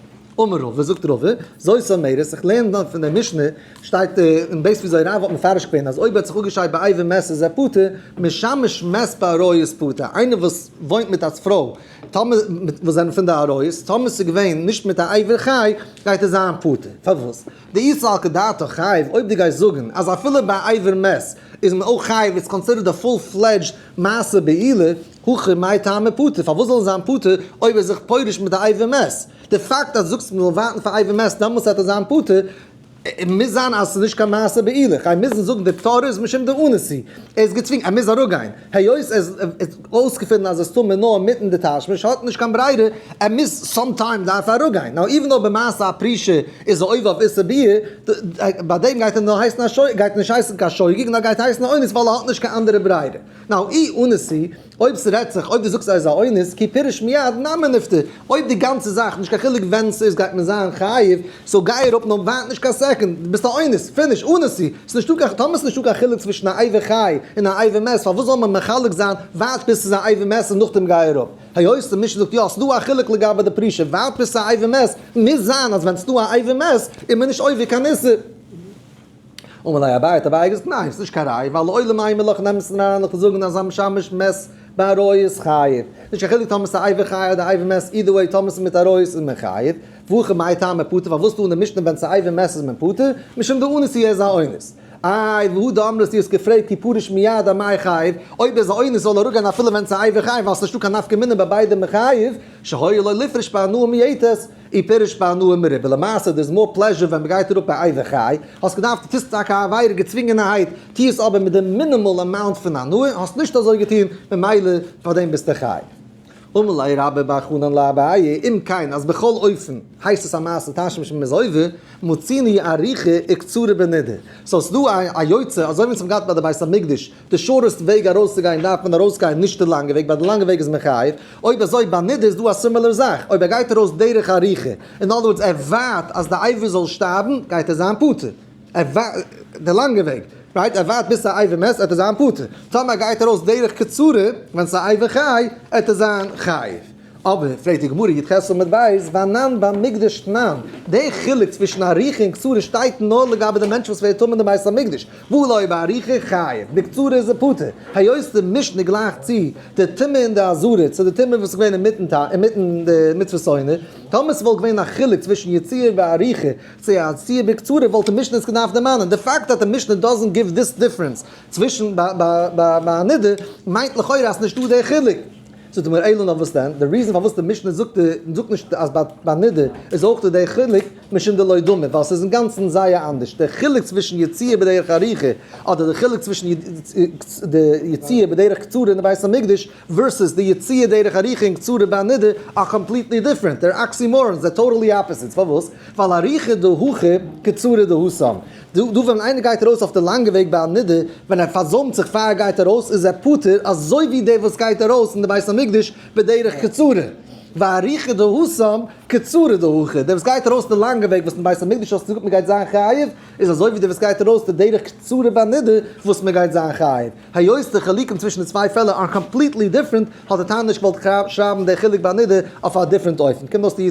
אמר רבא, זאגט רבא, זוי סאמערס, איך לערן דאן פון די משנה, שטייט אין בית וויאזוי רבא האט מפרש געווען אז אויב ער האט זיך אפגעשיידט ביי אייוועלט מער איז ער פטור, משמש מעסט ביי עריות פטור, איינער וואס וואוינט מיט א פרוי, טאמער מיט וואס זענען פון די ארויס, טאמער ס'איז געווען נישט מיט א עבר חי, גייט ער זיין פטור. פארוואס? דאיסר על כדעתו חייב, אויב דו גייסט זאגן אז אפילו ביי עבר מת איז מען אויך חייב, איז קאנסידערט די פול פלעדזשד מעשה בעילה, הכי מאי טעמא פטור, פארוואס זאל ער זיין פטור אויב ער איז זיך פורש מיט די עבר מת? די פאקט אז דו זאגסט מ'זאל ווארטן פאר עבר מת דעמאלטס וועט ער זיין פטור, ער מוז זיין אז עס איז נישט קיין מעשה בעילה, כ'גיי מוזן זאגן די תורה איז משום די אונסי, ער איז געצווינגן, ער מוז אראפגיין, היות ער האט אויסגעפונען אז עס טאר מען נאר מיטן די תשמיש, האט נישט קיין ברירה, ער מוז סאם טיים דארף ער אראפגיין, נאו איווען דאו במעשה הפרישה איז ער עובר אויף איסור ביאה, ביי דעם גייט ער נאר הייסן א שוגג, גייט נישט הייסן קיין שוגג נאר גייט הייסן א אונס ווייל ער האט נישט קיין אנדערע ברירה, נאו אי אונסי אויב ס'רעדט זיך אויב דו זאגסט ער איז א אונס כי פירש מיד נאמר נפטר, אויב די גאנצע זאך נישט קיין חילוק ווען ס'איז גייט מען זיין חייב, סאו גיי אראפ נאר ווארט נישט קיין סעקונד, דו ביסט א אונס, פיניש, אונסי, ס'איז נישטא קיין, טאמער ס'איז נישטא קיין חילוק צווישן א עבר חי און א עבר מת פארוואס זאל מען מחלק זיין ווארט ביז ס'איז א עבר מת און נאכדעם גיי אראפ, היות די משנה זאגט יא ס'דא א חילוק לגבי די פרישה ווארט ביז ס'איז א עבר מת, מוז זיין אז ווען ס'דא א עבר מת איז מען נישט עובר קיין איסור. אמר ליה אביי האט אביי געזאגט ניין עס איז נישט קיין ראיה ווייל לעולם איין מלאך נעמט עס נישט אריין לכן זאגן אז א משמש מעסט ביי עריות חייב נישט קיין חילוק טאמער עס איז א עבר חייב אדער עבר מעסט אידער וועי טאמער עס איז מיט עריות איז מען חייב ואכי מאי טעמא פטור פארוואס טאר די משנה ווען עס איז עבר מעסט איז מען פטור משום די אונס אי איז א אונס איי והוא דאמר אז דו האסט געפרעגט כי פרוש מיד א מאי חייב אויב איז א אונס זאל ער אראפגיין אפילו ווען עס איז א עבר חייב ווייל עס איז נישטא קיין נפקא מינה ביי ביידע מען חייב שהי' לא לפרוש פאר הנאה מיעטת אי פירש בהנאה מרובה, למעשה דער איז מאר פלעזשור ווען מ'גייט אראפ א איי וועכיי, האסט געדארפט טוסט טאקע א עבירה געצווינגענערהייט, טוה עס אבער מיט די מינימאל אמאונט פון הנאה, האסט נישט אזוי געטון, ממילא פאר דעם ביסטו חי. ומלאי רבה בה חנן לאביי, אם כן אז בכל אופן הייסט עס א מעשה תשמיש ממז הויבו, מוציני אריכא איקצרה בנידא, סאו ס'דא א יוצא אזוי ווי אונז האבן געהאט ביי די בית המקדש די שורסט וועג ארויסצוגיין דארף מען ארויסגיין נישט די לאנגע וועג ווייל די לאנגע וועג איז מחייב, אויב אזוי ביי נדה איז דא א סימילער זאך, אויב ער גייט ארויס דרך ארוכה, אין אדער ווארדס ער ווארט אז די עבר זאל שטארבן גייט ער זיין פטור, ער ווארט די לאנגע וועג, רייט ער ווארט ביז ס'איי ווער מעסט עט ער זיין פטור, טאמער ער גייט ארויס דרך קצרה ווען ס'איי ווער חי עט ער זיין חייב. אבער, פרעגט די גמרא, יט ח' עמוד ב', ואנן ביים מקדש תנן, די חילוק צווישן עריכה און קצרה שטייט נאר לגבי די מענטש וואס ווערט טמא אין די בית המקדש, והוא לוי' בעריכה חייב, בקצרה איז ער פטור, היות די משנה גלייכט צו די טומאה אין די עזרה צו די טומאה וואס איז געווען אינמיטן ת אינמיטן די מצוות עונה, טאמער ס'וואלט געווען א חילוק צווישן יציאה בעריכה צו א יציאה בקצרה וואלט די משנה עס געדארפט דערמאנען, די פאקט אז די משנה דאזענט גיוו דיס דיפרענס צווישן ביי ביי ביי ביי א נדה מיינט לכאורה אז ס'נישטא די חילוק. זאגט די מור ע ל נאר וואס דען, די ריזען פארוואס די משנה זאגט זאגט נישט אז ביי נדר איז אויך דא די חילוק משום דלא דומה ווייל ס'איז אינגאנצן זייער אנדערש די חילוק צווישן יציאה בדרך ארוכה אדער די חילוק צווישן די יציאה בדרך קצרה אין די בית המקדש ווערסעס די יציאה דרך ארוכה און קצרה ביי נדר אר קאמפליטלי דיפרענט דער אקסימארן זיי טאטעלי אפעסיטס פארוואס ווייל ארוכה דהכי קצרה דהא סמ. דא ווען איינער גייט ארויס אויף די לאנגע וועג ביי א נדר, ווען ער פארזוימט זיך פאר ער גייט ארויס איז ער פטור אזוי ווי דער וואס גייט ארויס אין די בית המקדש בדרך קצרה, והאריכא דהא סם קצרה דהוכא, דער וואס גייט ארויס די לאנגע וועג וואס אין בית המקדש האסטו געזאגט מען גייט זיין חייב, איז אזוי ווי דער וואס גייט ארויס די דרך קצרה ביי נדר וואס מען גייט זיין חייב. היות די חילוקים צווישן די צוויי פעלער אר קאמפליטלי דיפרענט, האט די תנא נישט געוואלט שרייבן די חילוק ביי נידה אויף א דיפרענט אופן. קומט אויס די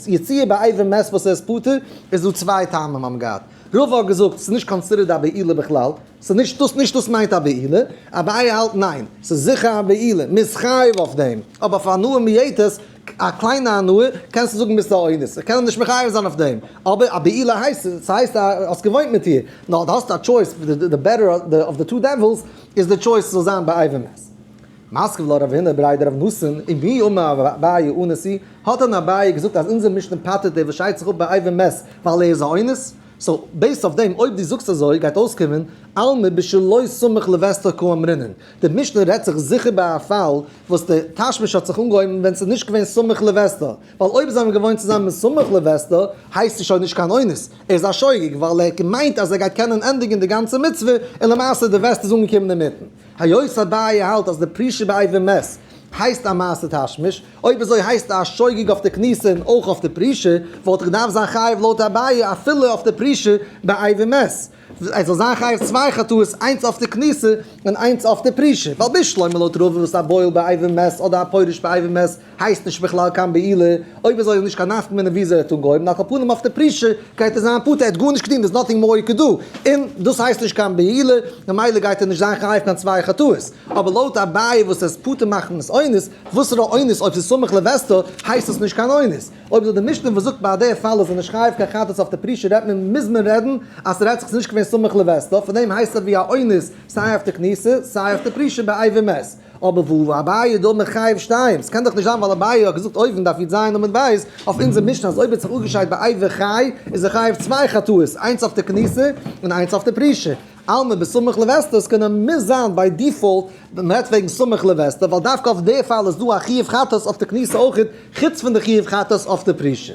יציאה ביי עבר מת וואס ער איז פטור, איז דא צוויי טעמים האבן געהאט. רוב האט געזאגט ס'איז נישט קאנסידערט א בעילה בכלל, ס'איז נישט דאס נישט דאס מיינט א בעילה, אביי האלט ניין, ס'איז זיכער א בעילה, מ'איז חייב אויף דעם, אבער אויף הנאה מיעטות, א קליינע הנאה קענסטו זאגן ביסט א אונס, איך קען אים נישט מחייב זיין אויף דעם, אבער א בעילה הייסט עס, ס'הייסט אז האסט געוואוינט מיט איר, נאר דו האסט א טשויס, די בעטער אוו די טו דעווילס איז די טשויס ס'זאל זיין ביי אייוועלט מעס. מסכת ולא רב הינא ברי דרב נאסן, אם הי' אומר רב אביי אונס הי', האט דען אביי געזאגט אז אונזער משנה פטר'ט דער וואס שיידט זיך אפ ביי אייוועלט מעס ווייל ער איז א אונס? סאו בעיסד אויף דעם אויב דו זאגסט אזוי גייט אויסקומען עלמא בשלו סמוך לבעשטו כאמרינן. די משנה רעדט זיך זיכער ביי א פאל וואס די תשמיש האט זיך אנגעהויבן ווען ס'איז נישט געווען סמוך לווסתו, ווייל אויב זיי האבן געוואוינט צוזאמען סמוך לווסתו הייסט עס שוין נישט קיין אונס, ער איז א שוגג ווייל ער האט געמיינט אז ער גייט קענען ענדיגן די גאנצע מצוה און למעשה די וועסט איז אנגעקומען אינמיטן. היות אביי האלט אז די פרישה באיבר מת הייסט א מעשה תשמיש, אויב אזוי הייסט ער א שוגג אויף די כניסה און אויך אויף די פרישה, וואלט ער געדארפט זיין חייב לויט אביי אפילו אויף די פרישה באיבר מת. עס זאל זיין חייב צוויי חטאות איינס אויף די כניסה און איינס אויף די פרישה, ווייל בישלוימה לויט רוב וואס א בועל באייבים מעסט אדער א פורש באייבים מעסט הייסט נישט בכלל קיין בעילה, אויב אזוי איז נישט קיין נפק מ וויאזוי ער האט אנגעהויבן, על כל פנים אויף די פרישה גייט ער זיין פטור, ער האט גארנישט געטון, דער איז נאטינג מאור הי ק דא, און דאס הייסט נישט קיין בעילה, ממילא גייט ער נישט זיין חייב קיין צוויי חטאות, אבער לויט אביי וואס עס פטור מאכן עס אונס, וואסערע אונס, אויב עס איז סמוך לווסתו הייסט עס נישט קיין אונס. אויב זאגט די משנה וואס זאגט ביי די פאל אז איז נישט חייב קיין חטאת אויף די פרישע רעדט מען מוז מען רעדן אז ס'רעדט זיך ס'איז נישט געווען סמוך לווסתו פון דעם הייסט ער ווי א אונס סיי אויף די כניסה סיי אויף די פרישע באי ומת אבער וואו איז אביי דא מחייב שתיים ס'קען דאך נישט זיין ווייל אביי האט געזאגט אויבן דארף איד זיין עמוד בית אויף אונזער משנה אז אויב האט זיך אפגעשיידט באי וחי איז ער חייב צוויי חטאות איינס אויף די כניסה און איינס אויף די פרישע עלמא בסמוך לווסתו, עס קען מוז זיין ביי דיפאלט ווען מען רעדט וועגן סמוך לווסתו, ווייל דווקא אויף די פאל איז דא א חיוב חטאת אויף די כניסה אויכעט, חוץ פון די חיוב חטאת אויף די פרישה.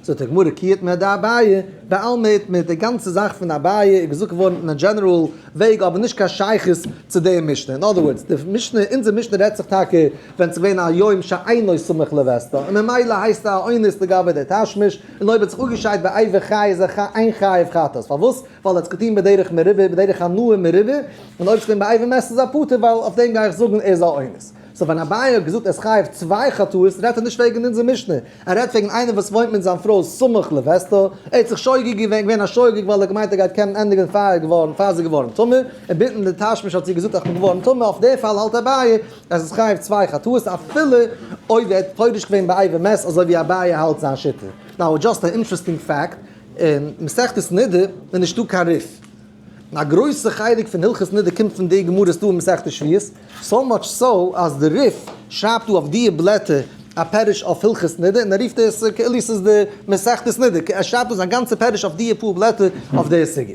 זאגט די גמרא כי איתמר דאביי, בעלמא איתמר, די גאנצע זאך פון אביי איז געזאגט געווארן אין א דזשענעראל וועג אבער נישט קיין שייכות צו די משנה, אין אדער ווארדס, די משנה, אונזער משנה רעדט זיך טאקע ווען עס איז געווען א יום שאינו סמוך לווסתו, און ממילא הייסט א אונס לגבי די תשמיש, און אויב האט זיך אפגעשיידט ביי עבר חי איז ער חי איין חיוב חטאת, פארוואס? ווייל ער האט עס געטון בדרך מרובה, בדרך הנאה מרובה, און אויב עס איז געווען באייוועלט מעסט עס א פטור, ווייל אויף דעם גיי איך זאגן ער איז א אונס. סאו ווען אביי האט געזאגט ער איז חייב צוויי חטאות רעדט ער נישט וועגן אונזער משנה, ער רעדט וועגן איינער וואס וואוינט מיט זיין פרוי סמוך לווסתו, ער האט זיך שוגג געווען, געווען א שוגג ווייל ער האט געמיינט ער גייט קענען ענדיגן פאר ער איז געווארן, פאר זי איז געווארן טמא, און ביטן די תשמיש האט זי געזאגט איך בין געווארן טמא, אויף די פאל האלט אביי אז עס איז חייב צוויי חטאות אפילו אויב ער האט פורש געווען באייוועלט מעסט אזוי ווי אביי האלט זיין שיטה. נאו, דזשאסט אן אינטרעסטינג פעקט. אין מסכת נדה איז נישטא קיין ריף. און א גרויסע חלק פון הלכות נדה קומט פון די גמרות דא אין מסכת שביעית, סאו מאטש סאו אז די ריף שרייבט דא אויף דיע בלעטער א פירוש אויף הלכות נדה און ער רופט עס כאילו ס'איז די מסכת נדה, ער שרייבט דא זיין גאנצע פירוש אויף דיע פאר בלעטער אויף די סוגיא.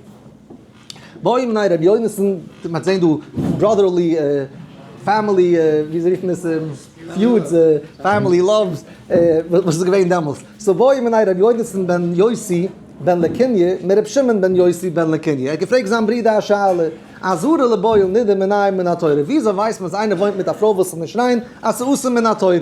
בוים ניין רבי יונתן מ'האט זעהן דא בראדערלי פעמילי ווי זיי רופן עס פיודס פעמילי לאווס וואס איז געווען דעמאלס סאו בוים ניין רבי יונתן בן יוסי בן לקיני' מיט רבי שמעון בן יוסי בן לקיני' ער האט געפרעגט זיין ברודער א שאלה א זרע לבעל נידה מנין מן התורה ווי אזוי ווייסט מען אז איינער וואוינט מיט א פרוי וואס איז נישט ריין אז ס'איז אסור מן התורה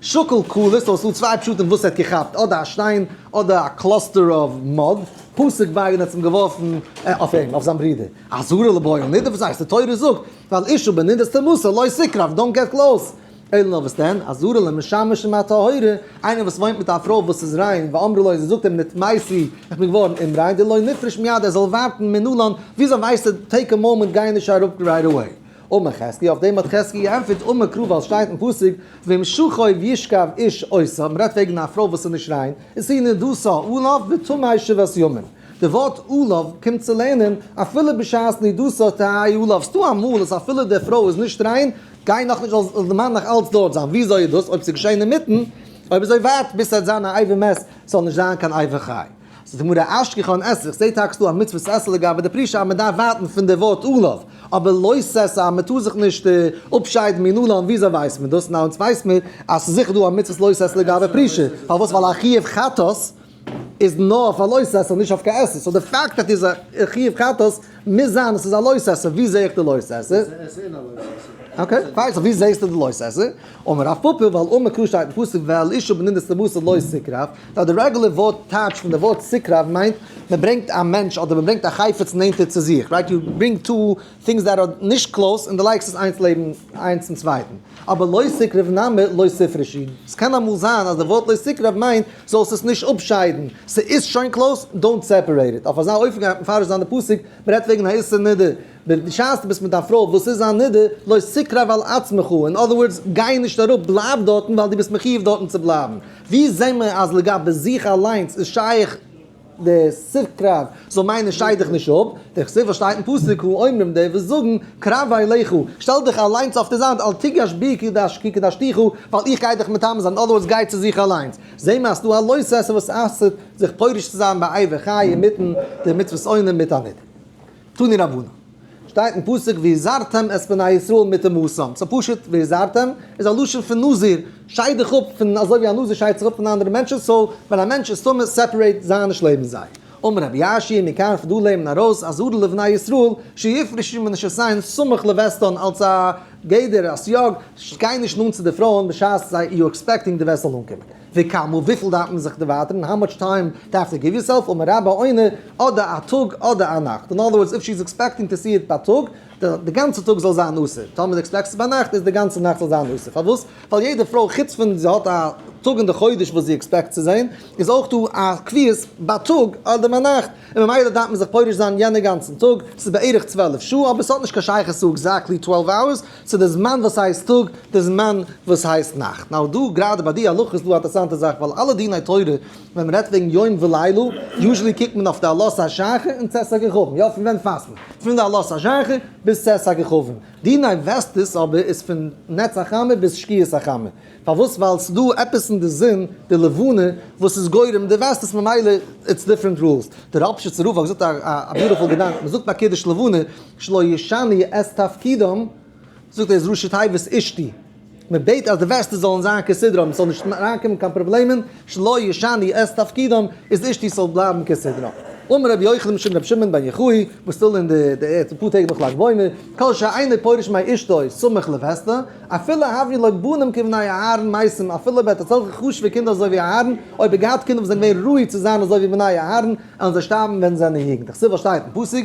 שקל כלות סאו ס'דא צוויי פשטים וואס ער האט געכאפט אדער א שטיין אדער א קלאסטער אוו מאד. פסוק ווייגען האט אים געווארפן אויף אים, אויף זיין ברודער, אזהרה לבעל נדה, וואס הייסט די תורה זאגט ועל אישה בנדה תמסור לא סקרב דאנט געט קלאוס, אלא נאר וואס דען, אזהרה למשמש עם הטהורה, איינער וואס וואוינט מיט א פרוי וואס איז ריין, ואמרו לו און זי זאגט אים נתמאסי איך בין געווארן אומריין, דלא נפרוש מיד ער זאל ווארטן מנלן, וויאזוי ווייסטו טעיק א מאמענט גיי נישט אראפ רייט עוועי. ומחזקי, אויף דעם האט חזקי געענטפערט ומקרא ווייל שטייט אין פסוק ואם שוכב ישכב איש עושה, מ'רעדט וועגן א פרוי וואס איז נישט ריין, איז זי נדושה עליו וטמאה שבעת ימים, די ווארט עליו קומט צו לערנען אפילו בשעת נדושה תהי' עליו, ס'דא אמאל אז אפילו די פרוי איז נישט ריין גייט נאכנישט זאל די מאן נאך אלץ דארט זיין, וויאזוי איז דאס אויב ס'איז געשען אינמיטן, אויב איז ער ווארט ביז ס'וועט זיין א עיבור מת, ס'זאל נישט זיין קיין עיבור חי. זאגט די גמרא אשכח אן עסל, איך זעה טאקס דא א מצוות עסל לגבי די פרישה אז מען דארף ווארטן פון די ווארט עליו, אבער לא ססא אז מען טאר זיך נישט אפשיידן מן עליו, וויאזוי ווייסט מען דאס? ניין אונז ווייסט מיר אז ס'איז זיכער דא א מצוות לא ססא לגבי פרישה, פארוואס? ווייל א חיוב חטאת איז נאר אויף א לא ססא נישט אויף קיין עסל, סאו די פאקט אז ס'איז א חיוב חטאת מוז זיין אז ס'איז א לא ססא, ווי זעה איך די לא ססא? אקעי, ווייז ווי זעהסטו די לא ססא? אמר רב פפא ווייל אן מקור שטייט אין פסוק ואל אישה בנינוס למסור לא סיקרב, ווייל די רעגולער ווארט טייטש פון די ווארט סיקרב מיינט מען ברענגט א מענטש אדער מען ברענגט א חפץ נענטער צו זיך, רייט יו ברינג טו טינגס דעט אר נישט קלאוס און די לייגסט עס איינס לעבן איינס צום צווייטן, אבער לא סיקרב נמי לא ספרשי, ס'קען אמאל זיין אז די ווארט לא סיקרב מיינט זאלסט עס נישט אפשיידן, ס'איז שוין קלאוס דאונט סעפערעיט איט, אויף אזא אופן גייט מען מפרש זיין די פסוק, מען רעדט וועגן א איסור נדר. בשעת דו ביסט מיט דיין פרוי וואס איז א נדה, לא סיקרא ועל עצמך, אין אדער ווארדס, גיי נישט אראפ, בלייב דארטן ווייל דו ביסט מחיוב דארטן צו בלייבן. ווי זעהן מיר אז לגבי זיך אליינס איז שייך די סיקרא זאל מיינען שטייט דיך נישט אפ, די כסדר שטייט אין פסוק הוא האומרים די וואס זאגן, קרבה אליך, שטעל דיך אליינס אויף די זייט, אל תיגש בי כי קדשתיך, ווייל איך גיי דיך מטמא זיין, אין אדער ווארדס, גיי צו זיך אליינס. זעהן מיר אז ס'דא א לא סעשה וואס אסר'ט זיך פורש צו זיין באיבה חי אינמיטן די מצוות עונים מיט א נדה. תני רבנן. שטייט אין פסוק והזהרתם את בני ישראל מטה מאסם. סא פשוט והזהרתם איז א לשון פון נזיר, שייד דיך אפ פון אזוי ווי א נזיר שיידט זיך אפ פון אנדערע מענטשן, סא ווען א מענטש איז טמא סעפערעיט זיי נישט לעבן זיי. אמר רבי ישי מכאן כדאי לערנען ארויס אזהרה לבני ישראל שיפרשו מנשותיהן סמוך לווסתן אלס א גדר א סייג גיי נישט נאנט צו די פרויען בשעת זיי יו עקספעקטינג די וועסט זאל אנקומען. וכאמור וויפיל דארף מען זיך דערווייטערן, האו מאטש טיים דו האסט טו גיוו יור סעלף, אמר רבא אוינע, אדער א טאג אדער א נאכט, אין אדער ווארדס איף שי איז עקספעקטינג טו סי איט בייטאג, די גאנצע טאג זאל זיין אסור, טאמער זי עקספעקט עס ביינאכט איז די גאנצע נאכט זאל זיין אסור, פארוואס? ווייל יעדע פרוי חוץ פון זי האט א טאג אין די חודש וואס זי עקספעקט צו זען, איז אויך דא א קביעות בייטאג אדער ביינאכט, און ממילא דארף מען זיך פורש זיין יענע גאנצן טאג, ס'איז בערך צוועלף שעה, אבער ס'האט נישט קיין שייכות צו עקזעקטלי טוועלוו אווערס, צו די זמן וואס הייסט טאג, די זמן וואס הייסט נאכט. נאו דא גראדע ביי די הלכות איז דא א אטערסאנטע זאך ווייל אלע דיני תורה ווען מען רעדט וועגן יום ולילה יוזשעלי קוקט מען אויף די עלות השחר און צאת הכוכבים יא פון ווען פאסט מען פון די עלות השחר ביז צאת הכוכבים דיני וועסטעס אבער איז פון נץ החמה ביז שקיעת החמה. פארוואס ווייל סדא עפעס אין די זון די לבנה וואס איז גורם די וועסט עס ממילא איטס דיפרענט רולס די ראפשיצער רב האט געזאגט א ביוטעפול געדאנק מען זאגט ביי קידוש לבנה שלא ישנו את תפקידם זאגט ער איז ראשית היבש אשתי מען בעט אז די וועסטער זאלן זיין כסדרם סזאל נישט אריינקומען קיין פראבלעמען שלא ישני את תפקידם, איז אשתי ס'זאל בלייבן כסדרה. אמר רבי יוחנן משום רבי שמעון בן יוחאי, וואס טאר אין די די ערד אפאר טעג נאך לג בעומר, כל שאינו פורש מי אשתו סמוך לווסתה, אפילו הביאו לו בנים כבני אהרן מייסים, אפילו אויב ער האט אזעלכע חשוב'ע קינדער אזוי ווי אהרן, אויב ער האט געהאט קינדער וואס זענען געווען ראוי צו זיין אזוי ווי בני אהרן, עלן זיי שטארבן ווען זיי זענען יונג. דאך ס'וואס שטייט אין פסוק.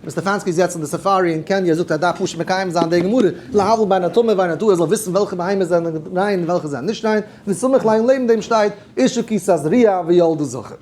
ווען סטעפאנסקי איז יעצט אין די סאפארי אין קעניא זאגט ער דארף פשוט מקיים זיין די גמרא להבדיל בין הטמא ובין הטהור ער זאל וויסן וועלכע בהמות זענען ריין און וועלכע זענען נישט ריין ווי סמוך לעין לעבן דעם שטייט אישה כיסה זריעה ויולדה זכר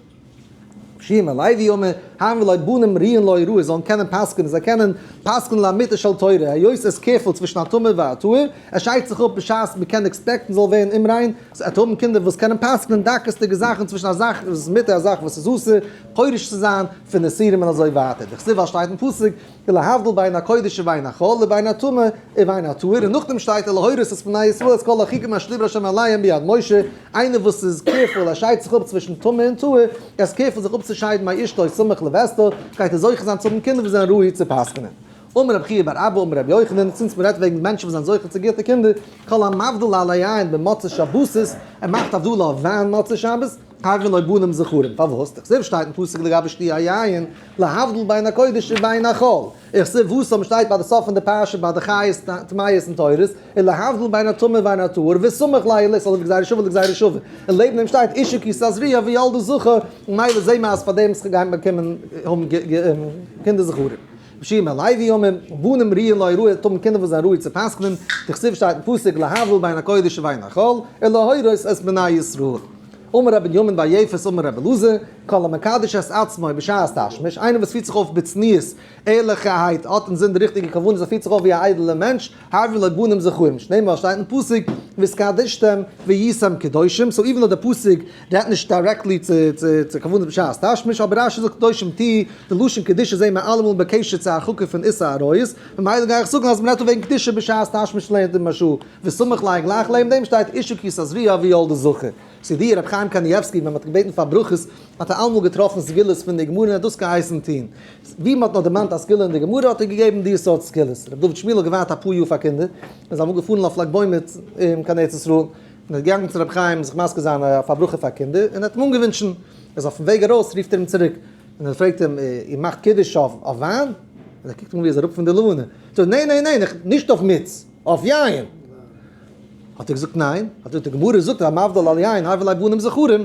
שי' מלאי ווי יאמר ה' ולא בנים ריעין לא יראו ער זאלן קענען פסק'ענען זיי קענען פסק'ענען לאמיתה של תורה היות עס קערפלט צווישן הטמא והטהור עס שיידט זיך אפ בשעת מען קען עקספעקטן זאל ווערן אומריין ס'עט האבן קינדער וואס קענען פסק'ענען דקות'דיגע זאכן צווישן א זאך וואס איז מותר א זאך וואס איז אסור פורש צו זיין פון די סירים און אזוי ווייטער, די כסובה שטייט אין פסוק איז להבדיל בין הקודש ובין החול לבין הטמא ובין הטהור און נאכדעם שטייט איז להורות את בני ישראל את כל החוקים אשר דיבר ה' עליהם ביד משה, איינער וואס איז קעירפול ער שיידט זיך אפ צווישן טמא און טהור, ער איז קעירפול זיך אפצושיידן ביי אשתו סמוך לווסתו, גייט ער זוכה זיין צו האבן קינדער וואס זענען ראוי צו פסק'נען. אמר רבי חייא בר אבא אמר רבי יוחנן, צינץ מ'רעדט וועגן מענטשן וואס זענען זוכה צו גוטע קינדער, כל המבדיל על היין במוצאי שבתות, ער מאכט הבדלה אויף וויין מוצאי שבת, קאווע נאר בנים זכרים, פארוואס? איך זעה וואס שטייט אין פסוק לגבי שתי היין, להבדיל בין הקודש ובין החול, איך זעה וואס אויבן שטייט ביי די סוף פון די פרשה ביי די חיות טמאות און טהורות, און להבדיל בין הטמא ובין הטהור, וסמוך ליל איז אזויווי גזירה שוה לגזירה שוה, און לעבן דעם שטייט אישה כי שאת זריעה וילדה זכר, ממילא זעהן מיר אז פארדעם גייט מען באקומען האבן קינדער זכרים. ושיר מהלוי ימים, בנים ראויין להוראה, טאר מען קינדער וואס זענען ראוי צו פסק'נען, דכתיב שטייט אין פסוק להבדיל בין הקודש ובין החול, און להורות את בני ישראל. אמר ר' בנימין בר יפת אמר ר' אלעזר, כל המקדש את עצמו בשעת תשמיש, איינער וואס פירט זיך אויף בצניעות, ערליכערהייט, האט אינזין די ריכטיגע כוונות, ער פירט זיך אויף ווי א איידעלער מענטש, האבן לה בנים זכרים שנאמר שטייט אין פסוק וסקדשתם והייתם קדושים סאו איווען דאו די פסוק רעדט נישט דיירעקטלי צו צו כוונת בשעת תשמיש אבער רשי זאגט קדושים ט די לשון קדושה זעהן מיר אלעמאל בקשר צו הרחקה פון איסור עריות ממילא גיי איך זאגן אז מ'רעדט דא וועגן קדושה בשעת תשמיש לענ ד משא כ וסמוך לעין גלייך לענ דעם שטייט אישה כיסא זריעה אבי יולדה זכר סידי רבי חיים קנייבסקי ווען מ'האט געבעטן פאר ברכות האט ער אלעמאל געטראפן סגולות פון די גמרא און ער האט דאס געהייסן טוהן ווי מען האט נאר דערמאנט א סגולה אין די גמרא האט ער געגעבן די סארט סגולות. ר' דוד שמואל האט געווארט אפאר יאר פאר קינדער, און איז אמאל געפארן אויף לג בעומר קיין ארץ ישראל, און איז געגאנגען צו רבי חיים זיך מזכה זיין אויף א ברכה פאר קינדער, און האט אים אנגעווינטשן, איז אויפן וועג ארויס רופט ער אים צוריק, און ער פרעגט אים, איר מאכט קידוש אויף וויין? און ער קוקט אים אן ווי ער איז אראפ פון די לאנע, זאגט ער, ניין ניין ניין, נישט אויף מיץ, אויף יין! האט ער געזאגט ניין, האט ער געזאגט, די גמרא זאגט המבדיל על יין הבל ע בנים זכרים.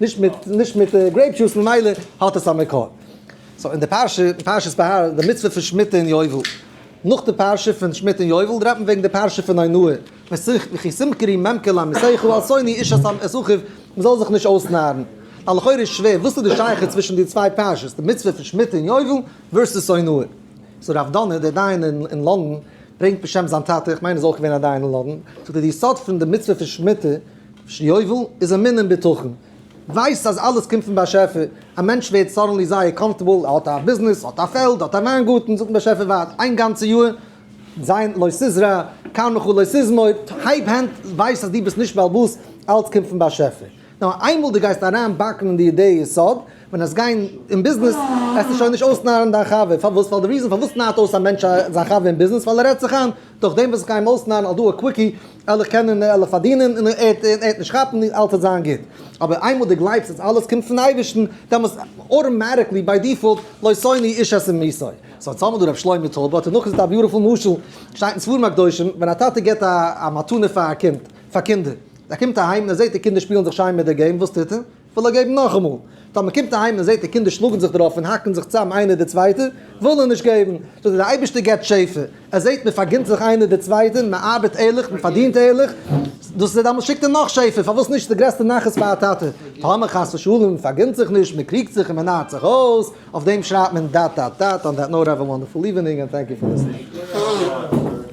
נישט מיט נישט מיט גרעיפ דזשוס ממילא האט עס א מקור. סאו אין די פרשה פרשת בהר די מצוה פון שמיטה אין יובל נאך די פרשה פון שמיטה אין יובל רעדט מען וועגן די פרשה פון הונאה וכי סמקרי ממקר לעמיתיך אל שונאי איש את את אחיו מען זאל זיך נישט אויסנארן א לכאורה איז שווער וואס איז די שייכות צווישן די צוויי פרשות די מצוה פון שמיטה אין יובל ווערסוס הונאה. סאו רב דונא דער דיין אין לונדון ברענגט בשם זיין טאטע איך מיין ער איז אויך געווען א דיין אין לונדון זאגט ער די יסוד פון די מצוה פון שמיטה. שיובל איז אמון און בטחון. ווייסט אז אלעס קומט פון באשעפער. א מענטש ווערט סאדענלי זייער קאמפארטעבל, ער האט א ביזנעס, ער האט א פעלד, ער האט א וויינגארטן, זאגט באשעפער ווארט איין גאנצע יאר, זיין לא תזרע, קאם לך לא תזמור, הייב הענט, ווייס אז דו ביסט נישט בעל בית, אלעס קומט פון באשעפער. נאר איינמאל דו גייסט אריין באקן אין די אידעע יסוד, ווען עס גיין אין ביזנעס, עסטו שוין נישט אויסנארן דיין חבר, פארוואס? ווייל די ריזען פארוואס נארט אויס א מענטש זיין חבר אין ביזנעס, ווייל ער רעדט זיך איין, דורך דעם וועסט זיך איינמאל אויסנארן, אל דא א קוויקי, ער זיך קענען און ער זיך פארדינען און ער וועט נישט כאפן און אלעס וועט זיין גוט. אבער איינמאל דו גלייבסט אז אלעס קומט פון אייבערשטן, דעמאלס אוטאמאטיקלי ביי דיפאלט לא שונאי איש את אמיתו. סאו יעצט האבן מיר דא ר' שלמה טויב האט ער נאכגעזאגט א ביוטיפול משל, שטייט אין ספרים הקדושים, ווען א טאטע געבט א מתנה פאר א קינד, פאר קינדער, ער קומט אהיים און ער זעט די קינדער שפילן זיך שיין מיט די געים, וואס טוט ער? וויל ער געבן נאכאמאל. טאמער מען קומט אהיים און מען זעט די קינדער שלאגן זיך דערויף און האקן זיך צוזאם איינער די צווייטע, וויל ער נישט געבן. זאגט ער, דער אייבערשטער גיבט שפע, ער זעט מען פארגינט זיך איינער די צווייטע, מען ארבעט ערליך, מען פארדינט ערליך, דאס איז דעמאלס שיקט ער נאך שפע, פארוואס נישט? ס'איז די גרעסטע נחת פאר א טאטע. טאמער חס ושלום מען פארגינט זיך נישט, מען קריגט זיך און מען נארט זיך אויס, אויף דעם שרייבט מען דאט דאט דאט, אן דעט נאוט העוו א וואנדערפול איווענינג ענד טענק יו פאר ליסטענינג.